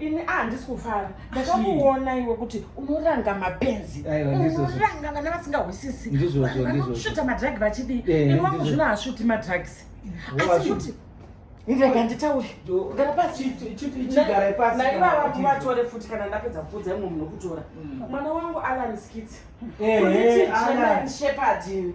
ini a ah, handisi kufara ndakakuona iwe kuti unoranga mapenzi unoranga vana vasingahwisisi vanoshota madrugi vachidii eh, ini wangu zvino hashuti madrugs asi kuti ndega nditaure gara pasiigara pasi naivava kuvatore futi kana ndapedza kuudza imwe munhu kutora mm. mwana wangu alan skits eh, eh, shepherd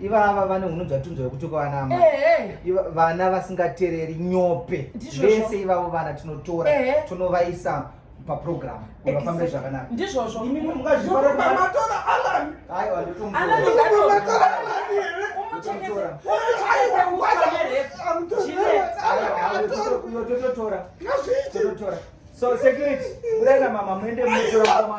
ivava vane hunhu dzatunzwa yekuti kwavanama vana vasingatereri nyope vese ivavo vana tinotora tonovaisa paprogram vafambe zvakanaka ndizvozvo imi mungazvitora alan aiwa ndotomutora totora so security budai na mama muende munotora mama